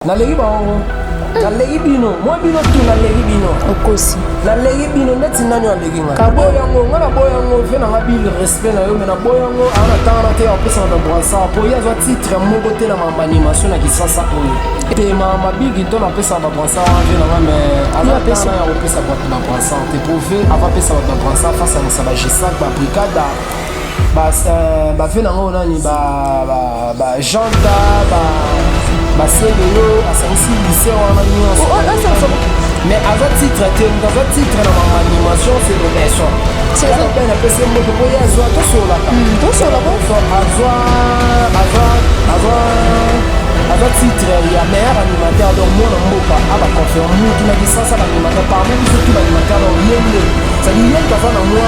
naleki bango naleki bino mwa bino tu naleki bino okosi naleki bino ndeti nani aleki nga naboya yango nga naboya yango ve nanga bil respect na yo me naboya yango aa natanga na te apesaka na bransar mpo ye azwa titre moko te na makambo animation na kisasa oyo te makambo bigi to napesaka babransar wana ve nanga me azatana ya kopesa bato babransar te mpo ve avapesa bato babransar face anisa bagesak babrikada ba euh, ba vie nango nani ba ba ba janta ba ba selelo asangisi lycée wana nyonso oh, oh, oh, mais aza titre te moto aza titre na mamanimation c'est le maison wana mpe napesi moto mpo ye azwa tosolaka hmm, tosolaka azwa azwa azwa aza titre ya meilleur animateur donc mwana mboka abaconfirme mutu na licence ya baanimateur parmi biso tu baanimateur donc ye nde cetadire ye moto aza na mwa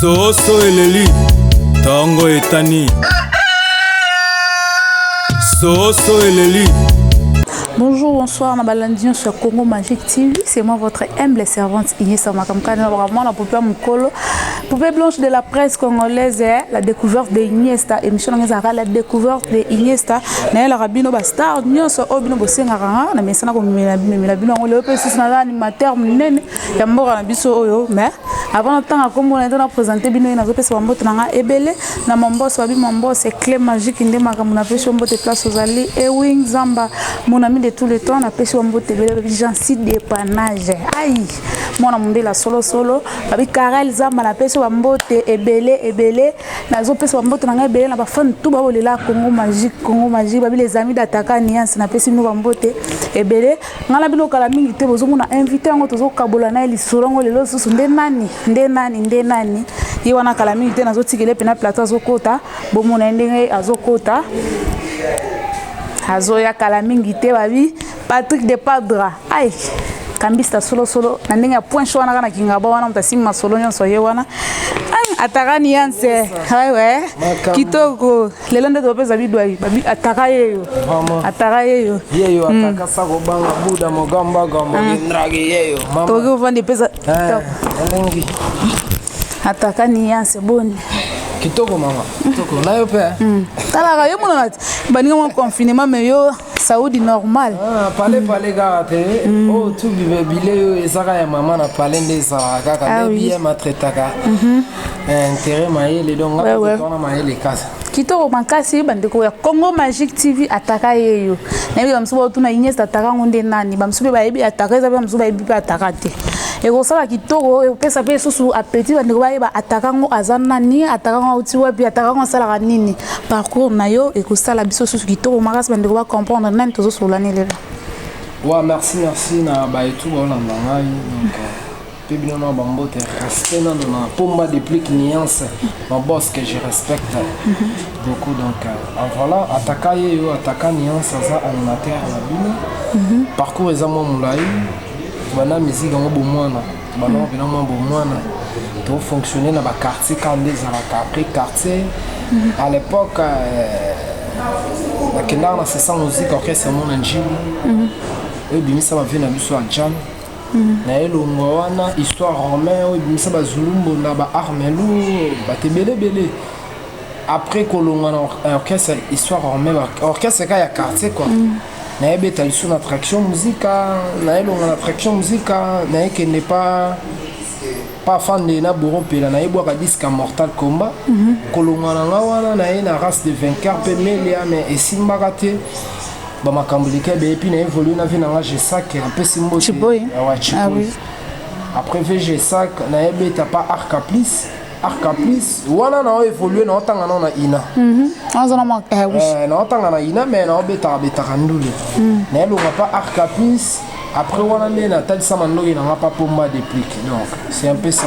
soso eleli tongo etani soso eleli Bonjour, bonsoir, na balandi sur Congo Magic TV. C'est moi votre humble servante Inès Makamkana, vraiment la populaire mukolo. Poupée blanche de la presse congolaise, eh, la découverte de Iniesta, émission nanga ezalaka la découverte de Iniesta, nayelaka bino ba star nyonso oyo bino bosengaka nga na mesana komemela bino yango lelo mpe lisusu naza animateur monene ya mboka na biso oyo mais avant natanga nkombo na ete na présente bino ye nazopesa bambote na nga ebele na mambos babi mambos cle magique nde makambo napesi yo mbote place ozali ewing zamba monami de tout le temps napesi yo mbote ebele lobi jansi depanage ai mwana mondele ya solosolo babi karel zamba napesi bambote ebele ebele nazopesa bambote na ngai ebele na bafane tu baolela congo magique congo magique babi les amis dataka niance napesi bino bambote ebele ngai na bino kala mingi te bozomona invité yango tozokabola na ye lisolo yango lelo lisusu nde nani nde nani nde nani ye wana kala mingi te nazotikele mpena plateau azokota bomona ye ndenge azokota azoya kala mingi te babi Patrick de Padra ai kambista solo solo na ndenge ya point show wana kana kingaba wana moto asimbi masolo nyonso ye wana ataka nianse wewe kitoko lelo nde topesa bidwai ataka yeyo ataka yeyo yeyo hmm. ataka sako banga buda mogamba gamba hmm. ndrage yeyo mama toki ovandi pesa eh, elengi ataka nianse boni kitoko mama kitoko nayo mpe hmm. talaka yo monana te baninga mwa confinement me yo saudi normal ah, pale mm. pale kaka te mm. oyo oh, tu bile oyo ezaka ya mama na pale nde ezalaka kaka ah nde biye matretaka mhm. eh, intere mayele donc ngaona mayele kasa kitoko makasi bandeko ya congo magique tv ataka yeyo nayebi bamosusu baotuna ines ataka yango nde nani bamosusu mpe bayebi ataka eza mpe bamosusu bayebi mpe ataka te ekosala kitoko ekopesa mpe lisusu apeti bandeko bayeba ataka yango aza nani ataka yango auti wapi ataka yango asalaka nini Parcours na yo ekosala biso susu kitoko makasi bandeko ba comprendre nani tozo solola ne lelo. Wa merci merci na ba etu ba olanda ngai donc mpe bino na bambote respect nano na pomba deplic nuance maboss que je respecte beaucoup donc en voilà ataka ye yo ataka nuance aza animateur na bino parcours eza mwa molai banda miziki yango bomwana bana wapi na mwa bomwana tofonctionne na baquartier kaka nde ezalaka après quartier mhm. à l'époque euh, nakendaka na sesa musique orchestre yango na njili mhm. oyo ebimisa bavie na biso ya jam mhm. na elongo wana histoire romain oyo ebimisa bazulumbo na baarmelu bato ebelebele après kolongwa na orchestre histoire romain orchestre ka ya quartier quoi naye beta lisu na traction musika naye longa na traction musika naye kende pa pa fande na bouro mpela naye bwaka disque ya mortal combat mm -hmm. kolonga na nga wana naye na race de vainqueur mpe melia mais esimbaka te bamakambo leka ebele mpi na évolue na vie na nga gesak apesi mbote awa chiboy après vg sac naye beta pa arca plus Ah, caprice wana na oevolue na otanga nao na ina mhm. eh, na otanga na ina mai na obetaka betaka ndule mhm. na elonga pa ar caprice après wana nde natalisama ndoki nanga pa pomba deplic donc c'est un peu ça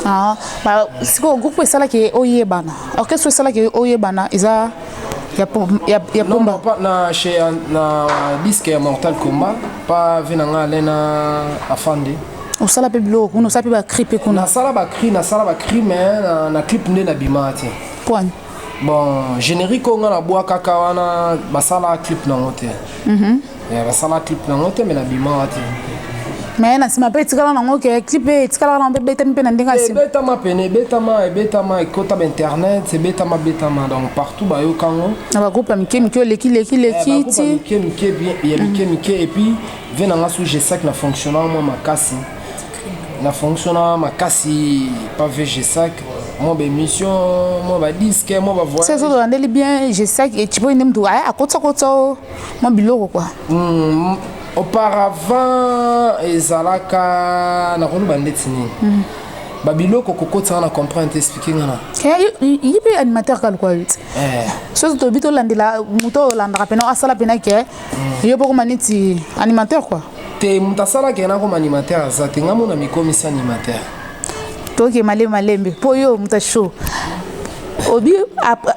ah, bah, sikoyo groupe esalaki oyebana orchestre esalaki oyebana eza ya pomba na disque ya mortal combat pa vie na nga alain na afandi osala mpe biloko kuna osala mpe bacri mpe kuna nasala bacri nasala bacri mais na, na clip nde nabima te pwani bon générique oyo ngai nabwakaka wana basala clip nango te mm -hmm. yeah, basala clip nango te mais nabima wa te me na nsima mpe etikala nango ke clip etikalaka nango mpe ebetami mpe na ndenge eh, ebetama pene ebetama ebetama ekota bainternet ebetama betama donc partout bayoka yango na ba groupe ya mike mike oleki leki leki eh, ti mike mike ya mike mike et puis vie na nga sous je sac na fonctionnant moi makasi na fonctionnant makasi pas vie je sac mwa baémission mwa badiske mwa bavoyage soki olandeli bien gesaki ecipo ende motu aya akotisakotisa o mwa biloko kua hmm, auparavant ezalaka nakoloba ndeti nini hmm. babiloko kokotisaka na comprendre te explike ngana ye mpe animateur kaluka yo te eh. soki toyebi tolandela moto oyo olandaka mpena asala mpena ke mm. yo bokoma neti animateur kua te moto asalaka ye nakoma animateur aza te ngai mona mikomisi animateur toke malembe malembe mpo yo moto asho obi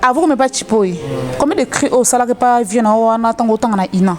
avant omema chipoi mm. combien de cri osalaka epa vie na yo wana ntango otanga na ina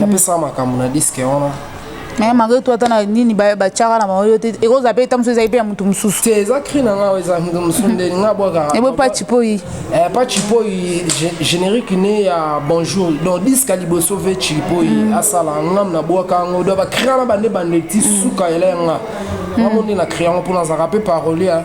napesaka makambo na diske wana naye malgré toi ata na nini batyaka na bango yo te ekozala mpe ntango mosusu ezali mpe ya moto mosusu te eza cri na ngai eza moto mosusu nde nga bwakaka ebo paci poi paci poi générique ne ya bonjour donc diska liboso ve cilipoi mm. asala ngam na bwaka yango donc bacria na bande bande ti mm. suka ela ya nga mm. ngambo nde na cria yango mpo nazalaka mpe parolier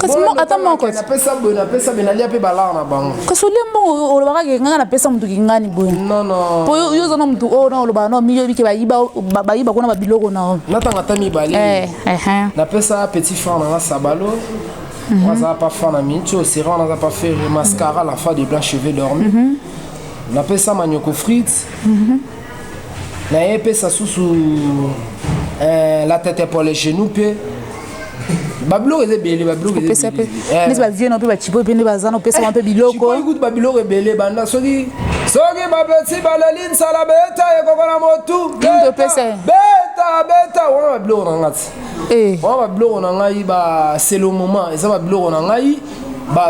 kasi mo ata moko te. napesa boye napesa boye nalia mpe balare na bango kasi olie mbongo olobaka ke ngai napesa moto kingani boye non non mpo yo oza na moto oyo na olobaka na omiyebi ke bayiba bayiba kuna babiloko na yo natanga ata mibale Eh, eh, eh. napesa petit frère na nga sabalo oyo azala pa fa na minti oyo sera wana aza pa fere mascara la fa de blanc cheveux dormi napesa manyoko frite na epesa susu eh, la tete pour les genoux mpe babiloko eza ebele babiloko neti eh. bavie na mpe bacipo mpe nde baza na opesama mpe biloko eh, kutu babiloko ebele banda soki soki bapesi baleli nsala beta ekoko na motu beta beta wana babiloko na ngai ti eh. wana babiloko na ngai baselo moment eza babiloko na ngai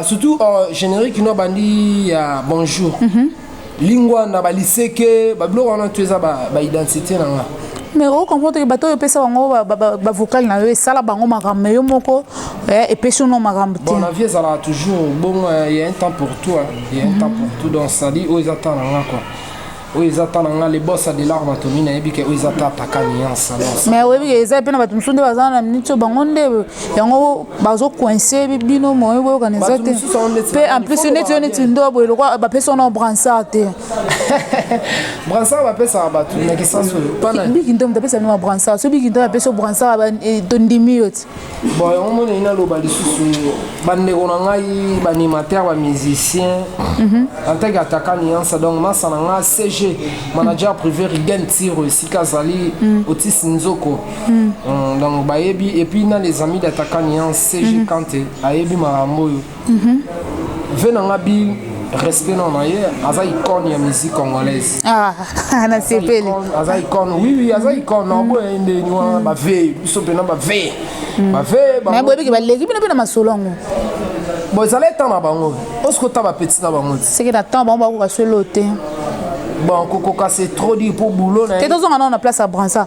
surtout oh, générique no bandi ya bonjour mm -hmm. lingwa na baliseke babiloko wana tu eza baidentité na nga mais ocomprendre ke bato oyo opesa bango bavokale na yo esala bango makambo me yo moko eh, epesi yo no makambo te na vie ezalaka toujours bongo eh, ya un temps pour toi ya un temps pour tout donc sali oyo eza temps na nga quoi oyo eza ta na nga lebosa de lar bato mini nayebi ke oyo eza ta ataka nuance mais oyebi ke eza mpe na bato mosusu nde baza na miniti oyo bango nde yango bazo coince bino moyo boyokana eza te mpe en plus neti yo neti ndo boye lokwa bapesi wana bransard te bransard bapesaka bato na kisasi oyo biki ndo moto apesa bino ba bransard so biki ndo apesi yo bransard eh, tondimi yo ti bon yango monei naloba lisusu bandeko na ngai baanimateur bamusicien mhm. en tant que attaquant nuance donc masa na ngai cg manager privé rigen tiro esika azali mhm. otisi nzoko Mm. Mm, donc bayebi et puis na les amis d'attaquant nian CG mm -hmm. Kante ayebi makambo oyo. Mm -hmm. Ve na nga bi respect na na ye aza icone ya musique congolaise ah, nasepeli aza icone oui oui aza icone na oboya ye ndeni wana baveye biso mpena baveye baveye boyebiki baleki bino mpe na masolo yango bon ezala etan na bango osiko ta bapeti na bango te seke na ntango bango bakoka solo te bon kokoka c'est trop dire pour boulot na te tozonga nao na place ya bransa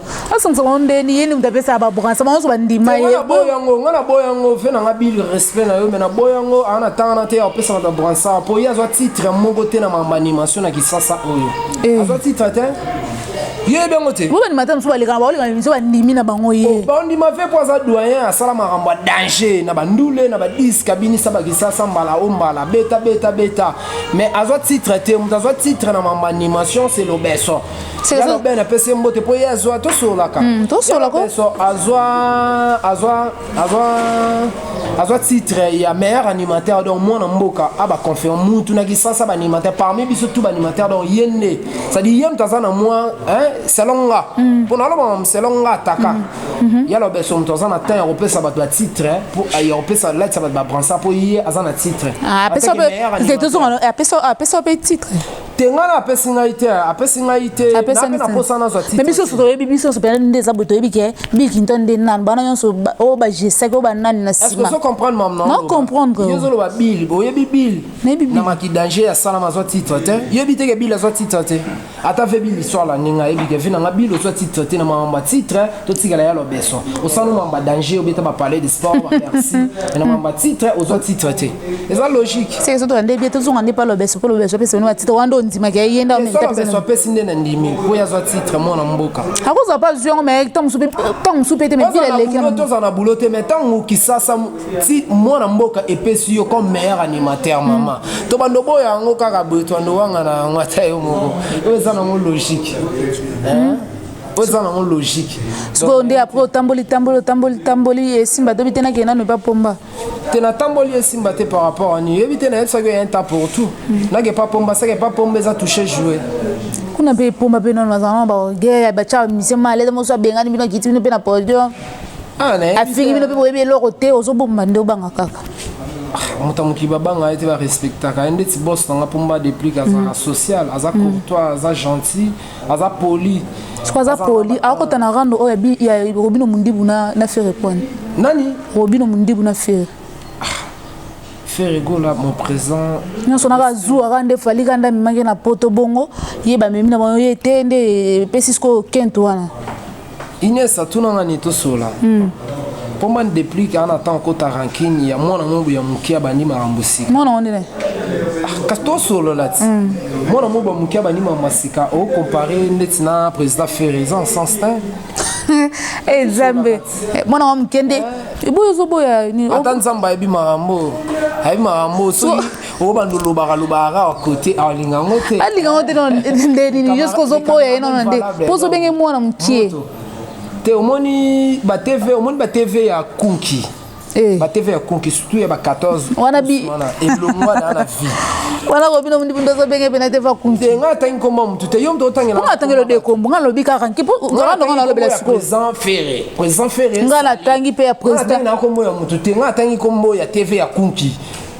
asangisa bango ndeni ye ndenge apesa ba branche bango nyonso bandima ye na boya yango nga na boya yango fe nanga bil respect na yo me na boya yango aa na tanga na te apesaka ba branche mpo ye azwa titre moko te na mamba animation na kisasa oyo eh. azwa titre te yebi yango te bobanimata mosusu balekaka baoleka miso bandimi na bango ye oh, bandima fe mpo aza doyen asala makambo ya danger na bandule na badisk abinisa bakisasa mbala o mbala beta beta beta mais azwa titre te moto azwa titre na mambo animation se lobeso yalo ben apesi ye mbote mpo ye azwa tosololaka hmm, tosololaso azwa azwa azwa azwa titre ya meilleur animateur donc mwana mboka abaconfirme mutu na kisasa baanimateur parmi biso tout baanimateur donc ye nde cestadire ye moto aza na mwa selon nga hmm. mpo nalobama selon nga ataka hmm. mhm. yalo beso moto aza na temps ya kopesa bato batitre eh, ya kopesa latisa bato babransa mpo ye aza na titre ah, apesa mpe titre te ngai apesi ngai te apesi ngai te nape na posa nazwa ti biso nyonso toyebi biso nyonso mpenza nde eza boye toyebi ke bikinto nde nani bana nyonso oyo bagesaki oyo banani na simaocomprendreozoloba bili boyebi bili na maki danger asalama azwa titre te yebi te ke bili azwa titre te ata ve bili swala ndenge ayebi ke vi nanga bili ozwa titre te na mamamba titre totikala ya lobeso osala mamamba danger obeta bapalais de sport bapersi na mamamba titre ozwa titre te eza logique c'est que soto ande bien tozonga nde palo beso palo beso pesa nwa titre wando ndima ke yenda on tap beso apesi nde na ndimi ko ya zwa titre mwana mboka akoza pa ziongo mais tant musupe tant musupe te mais bila leki moto za na boulot te mais tant muki sasa ti mwana mboka epesi yo comme meilleur animateur mama to bando boyo yango kaka boyo to ando wanga na ngata yo moko eza na ngo logique hein po eza nango logique sikoyo nde apres otamboli tamboli otamboli tamboli esimba tobi te nakende nanu epa pomba te natamboli esimba te par rapport ani oyebi te nayebisaki ya inta pour tout mm. nake pa pomba seke pa pomba eza touche joue kuna mpe pomba mpe nono bazalana bagere batya mission malede mosu abengani bino akiti bino mpe na podium ah, afingi bino mpe boyebi eloko te ozobomba nde obanga kaka ah, moto ya mokili babanga ye te barespectaka ye ndeti bos nanga pomba deplique azalaka mm. social aza mm. courtois aza gentil aza poli siko aza poli akota na rando oyo ya robino mundibu na, na fere kwani nani robino mundibu na fere ah, fere gola mon présent nyonso naka azuwaka nde fali kanda amemaki na poto bongo ye bamemi na bango ye te nde epesi sikoyo kente wana Inès atuna nga nini tosolola hmm. mpo mba deplique ana ntango kota rankine ya mwana mobu ya moke abandi makambo sika mwana ngo ndene ah, kasi tosolola ti hmm. mwana mobu ya moke abandi makambo sika ocompare ndeti na président ferre eza en sens tin e nzambe eh, mwana wa moke nde eh. eboyo ozoboya nini ata nzambe ayebi makambo ayebi makambo soki obanda olobaka lobaka kaka kote alinga yango te alinga yango te nde nini juste kozoboya ye nona nde mpo ozobenge mwana mokie te omoni batv omoni batv ya kunki eh. batv ya kunki surtout ya ba 14 wana bi elongo wana na vie wana kobino mundo ozobenge pena te va kunki te nga tangi komba mutu te yo mto otangela nga tangelo de kombo nga lobi kaka nki po nga ndo nga lobela siko présent ferré présent ferré nga na tangi pe ya président nga na kombo ya mutu te nga tangi kombo ya tv ya kunki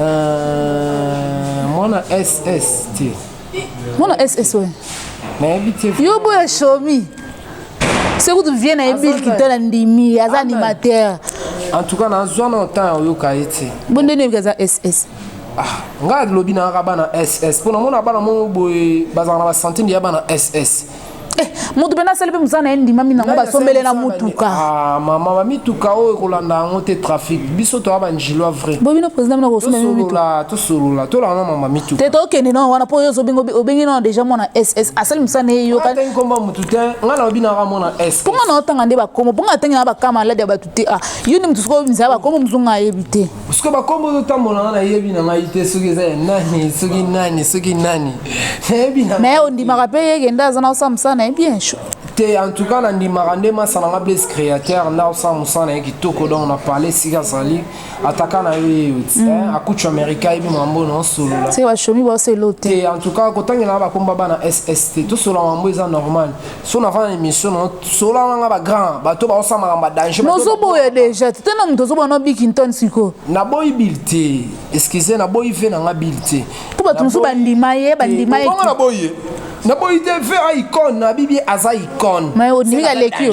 Euh, mwana SS te. Mwana SS oyo. Nayebi te. Yo boya shomi. soki kutu vie na ye bill kitala ndimi aza animateur en tout cas nazwa na temps ya oyoka ye te bo ndeni oyoki aza ss ah, ngai lobi nayaka bana ss mpo namona bana moko boye bazalaka na basantime ya bana ss Eh, mutu mpe nasali mpe mosala na ye ndimami nango basombele na mutuka ah, mama bamituka oyo ekolanda yango te trafic biso toya banjilwa vrai bo bino président bino kosolola tosolola tolaka na mama mituka te tokende na wana mpo oyo obengi nao déjà mwana ss asali mosala na ye yokangi nkombo ya motu te ngai na obi naka mwana s mpo ngai naotanga nde bakomo mpo ngai atangi na bakamalade ya bato te ah yo nde motu soki obimisa ya bakomo mozunga ayebi te sikoyo bakombo ozotambola nga nayebi na ngai te soki eza ya nani soki nani soki nani nayebi na mais ondimaka mpe ye kenda aza na osala mosala na ye bien chaud te en tout cas nandimaka nde masala nga blaise créateur na osala mosala na ye kitoko donc na parle esika azali ataka na yo ye yo ti mm. akutu amerika ayebi mambo na osolola bashomi baoselo te en tout cas kotangela nga bakomba bana sst tosolola mambo eza normal so na fana émission na sola na nga ba grand bato ba osama kamba danger nozo boya déjà te na moto zoba na biki ntoni siko na boy bill te excusez na boy fe na nga bill te to bato mosusu bandima ye bandima ye bongo na boye na boye te fe a icone na bibi aza icone mais odimi ka leki yo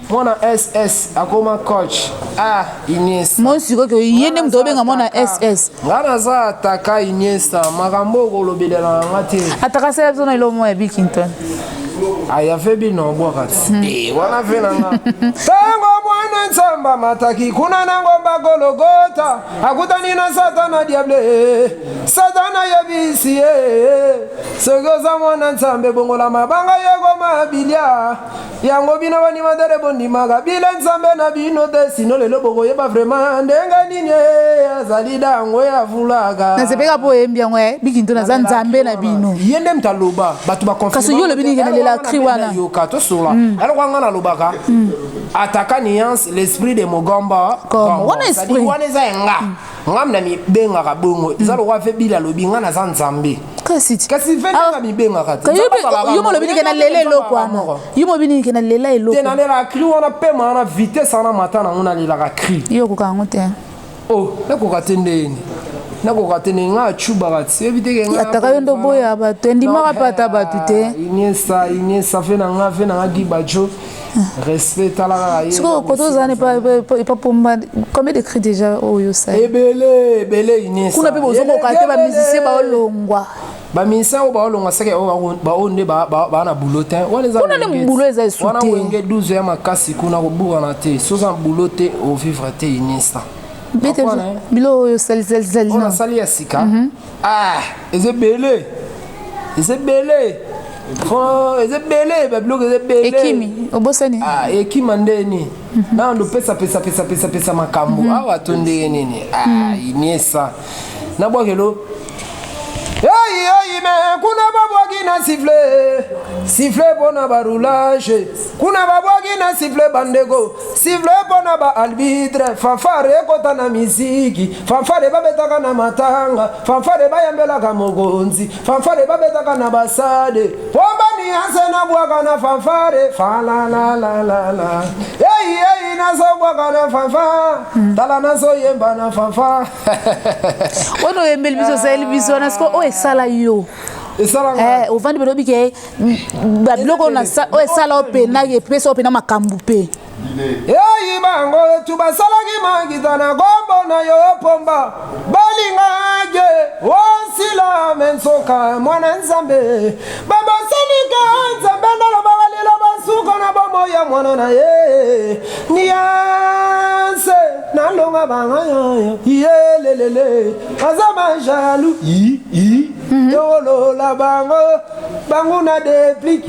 mwana ss akoma coach ah iniesta mon sikoki ye nde moto obenga mwana ss nga naza ataka iniesta makambo oyo kolobelelana nga te ataka sela biso na elo moko ya bikington ayave bino obwaka hmm. eh, wana ve na nga ntango mwana nzambe amataki kuna na ngomba gologota akutani na satana diable satana yebisi ye soki oza mwana nzambe bongola mabanga yekoma bilia Yango bino ba animateur bondimaka bile nzambe na bino te sino lelo bokoyeba vraiment ndenge nini eh, azali dango ya vulaka nasepeka mpo oyembi yango e bikinto naza nzambe na bino ye nde moto aloba bato bakasi yo olobi nini nalela cri wana yoka tosola hmm. alors wanga nalobaka hmm. ataka nuance l'esprit de mogomba wana eza enga hmm. nga na mibengaka bongo eza mm. lokola mpe bila alobi nga naza nzambe kasi kasi venanga ah, mibengaka te yo molobi nike na lela eloko wana yo molobi nike na lela eloko te nalelaka cri wana mpe maa na vitesse wana mata nango nalelaka cri yo okoka yango te o oh, nakoka te ndeni nakoka te ndenge ngaa cubaka ti yebi te keataka yo ndoboya bato endimaka mpe ata bato te ah, iniesa iniesa fe na nga fe na nga gibajo respect tala kaka ye sikoyo koto ozana epa pomba combien de cri déjà oyo osala ebele ebele inesa kuna mpe bozokoka te bamusicien baolongwa bamusicien oyo baolongwa seke baoyo nde baa na boulot te kuna nde boulot eza esu te wana wenge 12 ya makasi kuna koburana te soza na boulot te ovivre te inesa biloko oyo osalisalisali oyo nasali ya sika mhm. Ah, eza ebele eza ebele eza ebele babiloko eza ebele ekimi obosani ah, ekima nde nini mhm. nao ndopesa pesa pesa pesa pesa makambo mhm. awa to ndenge nini ah, mhm. iniesa nabwakelo eyeyime kuna babwaki na sifle sifle mpo na baroulage kuna babwaki na sifle bandeko Sivle pona ba albitre fanfare ekota na miziki fanfare babetaka na matanga fanfare bayambelaka mokonzi fanfare babetaka na basade po banianse na bwaka na fanfare falalalalala eyi eyi nazobwaka na fanfa hmm. tala nazoyemba na fanfa oyo oyembeli biso osaleli biso wana siko oyo esala yo Eh, ovandi balobi ke babiloko oyo esala oyo mpe na epesa oyo mpe na makambo mpe eyi bango tu basalaki makita na kombo na yo pomba balingaki osila me nsoka mwana nzambe babosanike nzambe naloba balela basuka na bomoi ya mwana na ye nianse nalonga banga yoyo yelelele aza majalu iolola bango bango na deplic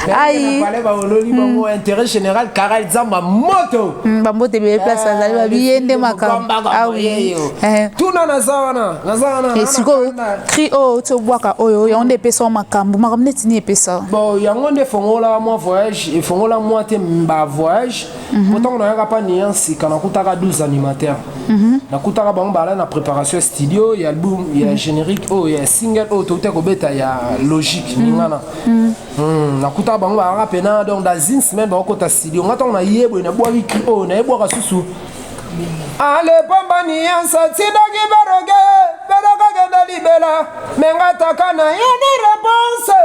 ayi baololi bango hmm. intérêt général karal zamba moto hmm, bambote ebele place eh, azali babiye nde makambo awi ah eh. tuna naza wana naza wana eh, sikoyo cri oyo oh, ti obwaka oyo yango nde epesa makambo makambo neti ni epesa bon yango nde efongola mwa voyage efongola mwa te ba voyage Mhm. Pourtant on a yaka pas nuance quand on kutaka 12 animateurs. Mhm. Na kutaka bango bala na préparation studio, il y a album, il y a mhm. générique, oh il y a single, oh tout est kobeta il y a logique ningana. Hmm, na kutaka bango bala pena donc dans une semaine bango kota studio. Ngata on a yebo na boa wiki oh na yebo ka susu. Ale pamba nuance tidaki baroge, baroga kenda libela. Menga taka na yoni réponse.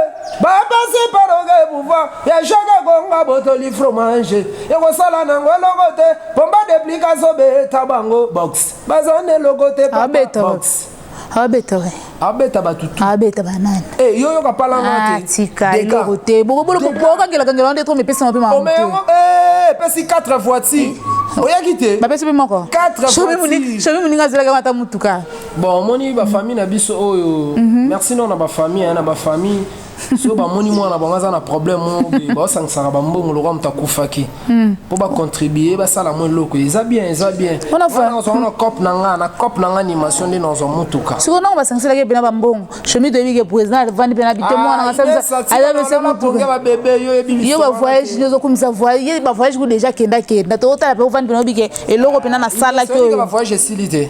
Baba si baroge pouvoir. ya jacques ekonga botoli fromage ekosala nango eloko te pomba deplique azobeta bango box baza na eloko te abeta box abeta we abeta bato tu abeta banani eh yo yoka pala nga te ah, tika eloko te boko bolo ko boka ngela ngela ndeto me pesa mape ma o me yango eh pesi 4 voitures eh. oyaki te bapesi mpe moko shomi moninga azelaka ata motuka bon omoni bafamille na biso oyo mhm. merci non na bafamille na bafamille soki bamoni mwana bango aza na problème moko boye baosangisaka bambongo lokola moto akufaki mpo hmm. bacontribue basala mwa eloko eza bien eza bien nazwa na cope na nga na cope na nga animation nde nazwa motuka sikoyo ntango basangiselaki mpena bambongo shemi toyebi ke président avandi mpena bite ah, mwana asabisaponge babebe yo yebi yo bavoyage nde ozokumisa voyage ye bavoyage ku déjà kendakenda tokotala mpe ovandi mpena oyebi ke eloko mpena nasalaki oyo bavoyage esili te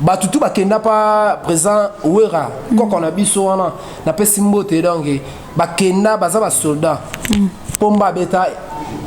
batu tu bakenda pa président wera mm. koko na biso wana napesi mbote donc bakenda baza basoldat mm. pomba abeta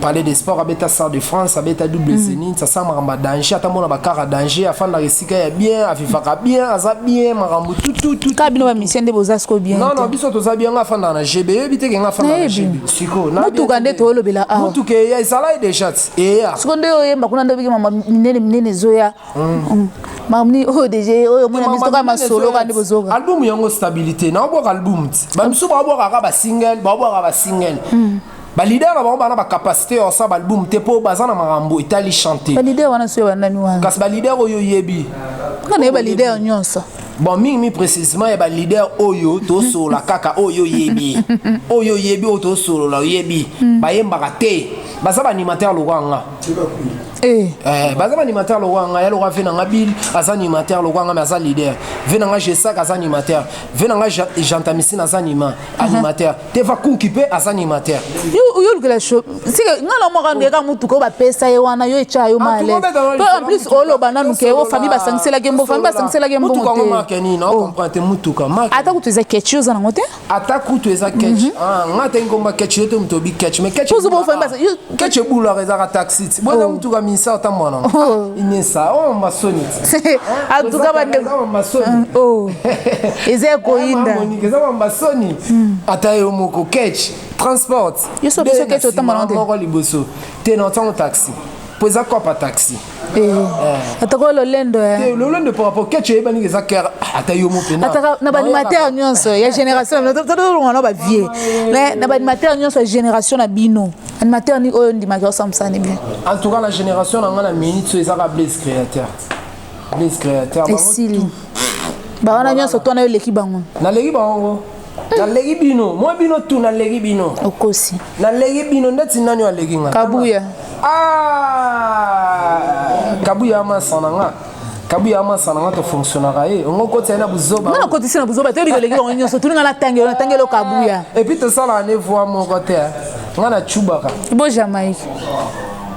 palais de sport abeta sar de france abeta double mm. zenit asa makambo ya danger ata mona bakar ya danger afandaka esika ya bien avivaka bien aza bien makambo tututuka bino bamisien nde boza siko bien non non biso toza bien nga afandaka na gb eyebi te ke nga afandaka na gb siko motuka nde toolobela awa motuka eya ezalai deja ti eya siko nde oyemba kuna nde obiki mama minene minene ezoya Mm. mamni oyo deja oyo mona biso kaka masolo kaka nde bozoka album yango stabilité naobwaka album ti bamisu baobwaka kaka basingle baobwaka basingle mm. balider na bango bana bacapacité ya kosala baalbum te mpo baza na makambo etali chante balider wana soyo banani wana kasi balider oyo oyebi nga naye balider nyonso bon mingi mingi précisement ya balider oyo tosolola kaka oyo oyebi oyo oyebi oyo tosolola oyebi mm. bayembaka te baza baanimateur lokola nga Eh. Eh, baza baanimateur lokola ngai aloka ve na ngai bil aza animateur lokola ngai me aza leader ve na ngai gesak aza animateur ve na ngai jantamicine aza anima uh-huh. animateur teva kunki mpe aza animateur yolukela sika ngai na moko andeka motuka oyo bapesa ye wana yo etya yo ah, male to en plus oloba nanu ke o famille basangiselaki mbo famille basangiselaki mbongo te motuka yango marke nini na comprendre te motuka ata kutu eza kechi oza nango te ata kutu eza catch mhm. ah, nga ata ngomba catch yo te moto obi catch mais catch catch ebulaka ezaka taxi ti bwana oh. motu ka minisa ata mwana oh. inesa o oh, masoni ti atuka bandeko masoni eza ekoyinda eza ba masoni hmm. ata yo moko catch transport yo so biso catch otambola te moko liboso te na ntango taxi mpo eza kopa taxi Eh, atako lolendo eh. lolendo par rapport keche eyebani nga eza kere ah, ata yo mopenataka na baanimateur nyonso ya génération tolonga na bavie mais na baanimateur nyonso ya génération na bino animateur ni oyo ndimaki osamsani bien en tout cas na génération na nga na minute so ezaka blaise créateur blaise créateur esili bawana nyonso twana yo eleki bango naleki bango naleki bino mwa bino tu naleki bino okosi naleki bino ndeti nani oyo aleki nga kabuya ah! kabuya amasa na nga kabuya amasa na nga tofonctionnaka ye ongo okoti ye na buzoba nga nakotisi na buzoba te oyebi eleki bango nyonso tuni nga natangi oyo natangi elo kabuya epuis tosalaka ne voi moko te nga na cubaka bo jamaïque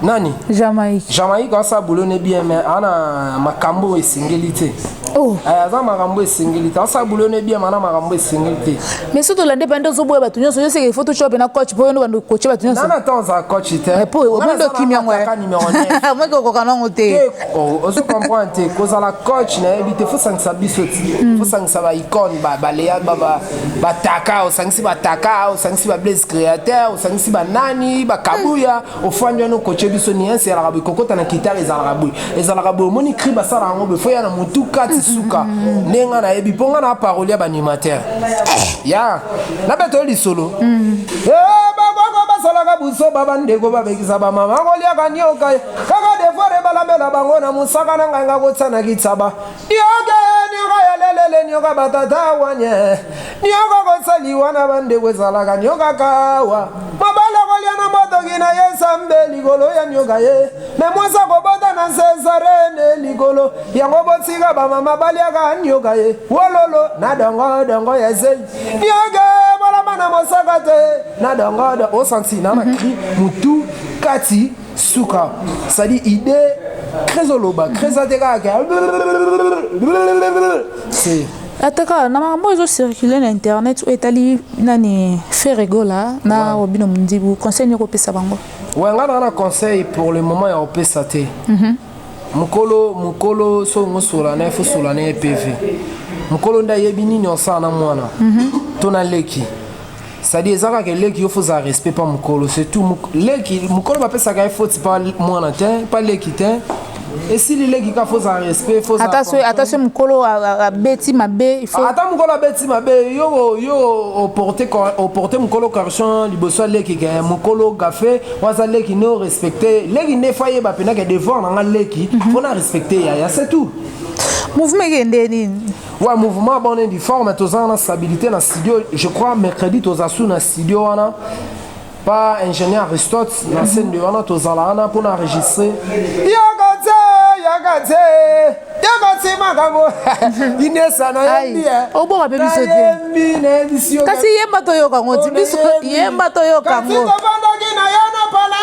nani jamaïque jamaïque asa boulot ne bien mais ana makambo esengeli te oh. eh, aza makambo esengeli te asa boulot ne bien mana makambo esengeli te mais soki tolande bande ozoboya bato nyonso yo seke ifo tocope na coach mpo yo nde bando koce bato nyonso nana temps aza coach te eh, po obondo okimi yango moki okoka nango te oh, ozo comprendre te kozala coach nayebi te fosangisa biso ti hmm. fosangisa baicone baleya bataka osangisi bataka osangisi bablaise créateur osangisi banani bakabuya ofandi wana okoce biso nianse ezalaka boye kokota na kitare ezalaka boye ezalaka boye omoni cri basala yango boye fo ya na motu kati mm-hmm. suka nde nga nayebi mpo nga na parole ya baanimateur eh. ya na beto yo lisolo mm-hmm. eh, bakoko basalaka busoba bandeko babekisa bamama koliaka nioka kaka defore balambela bango na mosaka na ngai nga kotia na kitsaba Nioka nioka ya lelele nioka batata wanye nioka kosaliwa na bandeko ezalaka nioka kawa mobala kolya na motoki na ye sambe likolo ya nioka ye me mwasi akobota na sesarene likolo yango botika bamama balyaka nioka ye wololo na dongo dongo ya zeli nioka bolama na mosaka te na dongo dongo osanti na makili mutu kati suka sadi idee très oloba très ate kaka c'est ata kaka na makambo oyo ezocircule na internet oyo etali nani feregola na robino mondibu conseil nini okopesa bango ouais ngai naa na conseil pour le moment ya kopesa te mhm. mokolo mokolo soki ngosola na ye fosola na ye pv mokolo nde ayebi nini osala na mwana mhm. to na leki sadi eza kaka eleki yo fozala respect pa mokolo surtout leki mokolo bapesaka ye foti pa mwana te pa leki te esili leki ka fozala respect ata so mokolo abeti mabe ah, ata mokolo abeti mabe yo yo oporte mokolo correction liboso ya leki ke mokolo gafe waza leki ne orespecte leki nde fo ayeba mpenaka devoir na nga leki mpo mhm. na respecte yaya c'est tout mouvement ekende nini Ouais, mouvement bon est difforme, mais tous en stabilité dans studio. Je crois mercredi tous en sous dans studio wana. Pas ingénieur Aristote, dans scène de wana tous en là pour enregistrer. Yagatse, yagatse. Yagatse makambo. Inesa na yembi. Au bon rappel biso te. Kasi yemba to yoka ngoti biso yemba to yoka ngo. Kasi to bandaki na yana pala.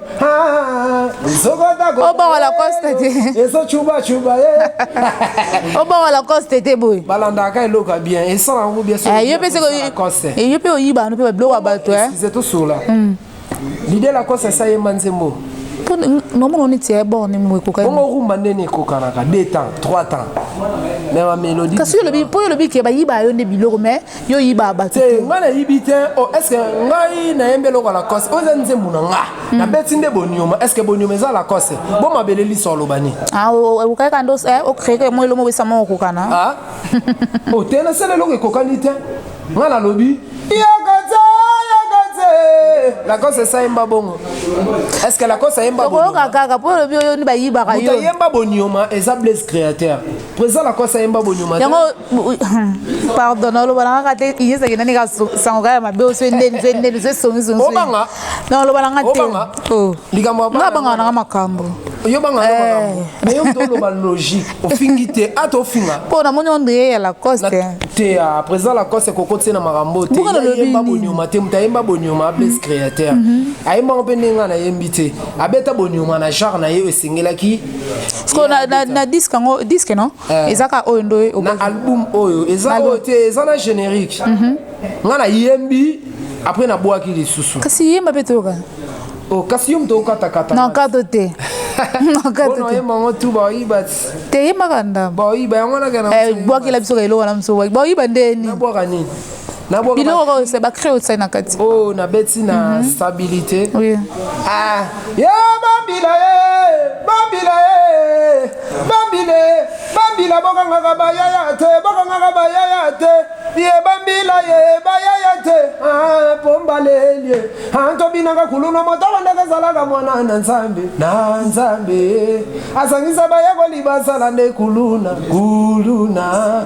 obongo lacoste te obongo lacoste te boye balandaka eloko ya bien esala yango bien eh, yo mpe eh, oyiba no mpe babiloko ya bato eh. tosola hmm. lide lacoste esayemba nzembo nomona neti ya borne mo ekokabongo rumba ndeni ekokanaka 2 temps 3 temps me bamélodie kasi mpo yo olobi ke bayiba yo nde biloko mais yo yibaa bato te ngai nayibi te o oh, estce ngai nayembi eloko ya lacoste oyo eza nzembo na nga hmm. nabeti nde bonioma estce bonioma eza lacoste bo mabele liso aloba nini ah, okokaki kanda okreke eh, mwa elongo obesa mwa okokana ah? o oh, te nasala eloko ekokani te ngai nalobi yakate yakate lacoste esayemba bongo estce lacoste ayemba bokoyoka kaka mpo olobi oyo ni bayibaka yo ayemba bonioma eza blaise créateur Président la kosa yemba bonyuma. Yango pardon na loba nanga te Inès akenda nika sango kaya mabe oso ende nzo ende nzo songi songi. Obanga. Na loba nanga te. Obanga. Oh. Likambo abanga. Nga banga nanga makambo. Yo banga nanga eh. makambo. Mais yo mto loba logique. Ofingi te ata ofinga. Po na moni onde ya la coste. Te ya ah, président la coste koko tse na makambo te. Buka na lobi. Yemba bonyuma te mta yemba bonyuma abes mm-hmm. créateur. Mm-hmm. Ayemba mpe ndenga na yembi te. Abeta bonyuma na genre na ye esengelaki siko na, na, na disque yango disque non eh. eza kaka oyo ndoye na album oyo eza oyo te eza na générique mm -hmm. nga nayembi après nabwaki lisusu kasi yemba mpe toyoka oh, kasi yo moto okatakata na kato te te yembaka ndambo eh, bwakela biso ka eloko wana mosu bwakiba ndeni biloko oyo se bacree otia na kati oyo oh, nabeti na mhm. stabilité ah, ye bambila ye bambila ye bambile bambila bokangaka bayaya te bokangaka bayaya te ye bambila ye bayaya te ah, pombalelie ah, tobinaka kuluna motala ndeke ezalaka mwana na nzambe na nzambe azangisa bayekoli basala nde kuluna kuluna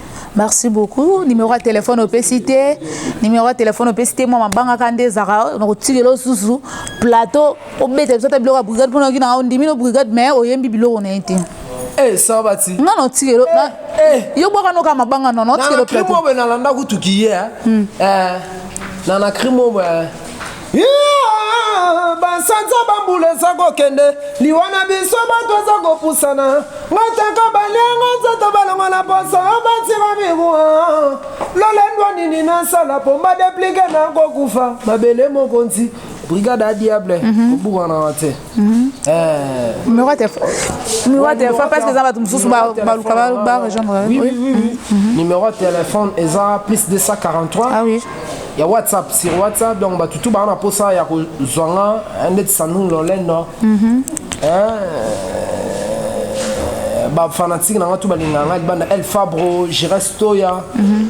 merci beaucoup numéro ya telefone opesi te numéro ya telefone opesi te mwa mabangaka nde ezaka na kotikela osusu plateau obeta biso ata biloko ya brigade mpona oki nanga ondimi no brigade mais oyembi biloko na ye te eh, sabati nga na otikelo eh, eh. yo bwaka noka mabanga nono otikelo plateau na na krimo be nalanda kutukiye eh. hmm. eh, na na krimo be basanza bambula eza kokende liwa na biso bato eza kopusana ngataka balianga nzoto balongo na poso batima mikuwa lolendwa nini nasala mpo badeplike nakokufa mabele mokonzi brigade ya diable mhm. kobukana te Hmm. Euh, numéro ya téléphone numéro ya téléphone parce que eza bato mosusu baluka ba rejoindre numéro ya téléphone eza plus 243 ah oui ya whatsapp sur whatsapp donc bato tu baa na mposa ya kozwa nga eh, ndeti sandrine lolendo mhm. eh, bafanatike na nga tu balingaka nga libanda el fabro gires toya mhm.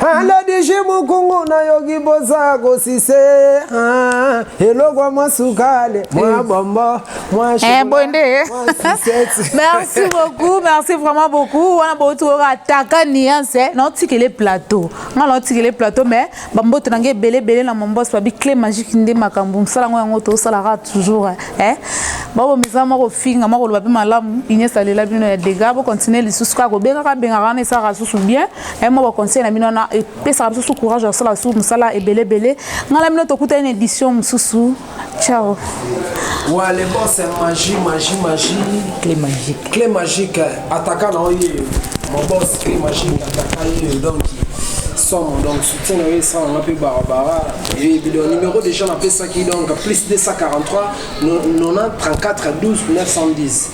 alodiji mukungu nayoki boza kosise ah, eloko mwa sukale mwa eh. bombo eh, boye nde eh. merci beaucoup merci vraiment beaucoup wana bouti oyo ataka niance naotikele plateau nga naotikele plateau mais bamboto na ngai ebele ebele na mombos babi cle magique nde makambo mosala yango yango tosalaka toujours babomisa mwa kofinga mwa koloba mpe malamu ines alela bino ya dega bocontinue lisusu kaka kobengaka bengaka wana esalaka lisusu bien eh, mwa baconseil na bino wana epesaka bisusu courage ya kosala basusu mosala ebele ebele ngai na bino tokutani na édition mosusu ciao Ouais, les bons, c'est magie, magie, magie. Clé magique. Clé magique, attaquant en lieu. Mon boss, clé magique, attaquant en lieu. Donc, somo donc soutien na yo esalanga mpe barabara eyebido numéro déjà napesaki donc plus 243 90 34 12 910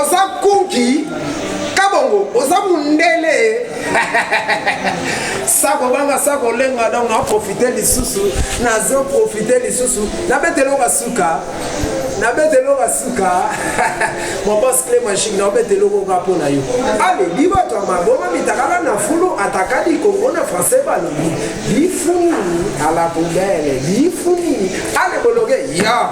oza kunki kabongo oza mundele sako banga sako lenga donc na profite lisusu nazo profite lisusu nabeteloka suka nabeteloka suka mobos cle magique naobetelokoka mpo na yo ale libato ya maboma mitakala na fulu ataka likongo na français balobi lifuni ala poubele lifuni ale bologe ya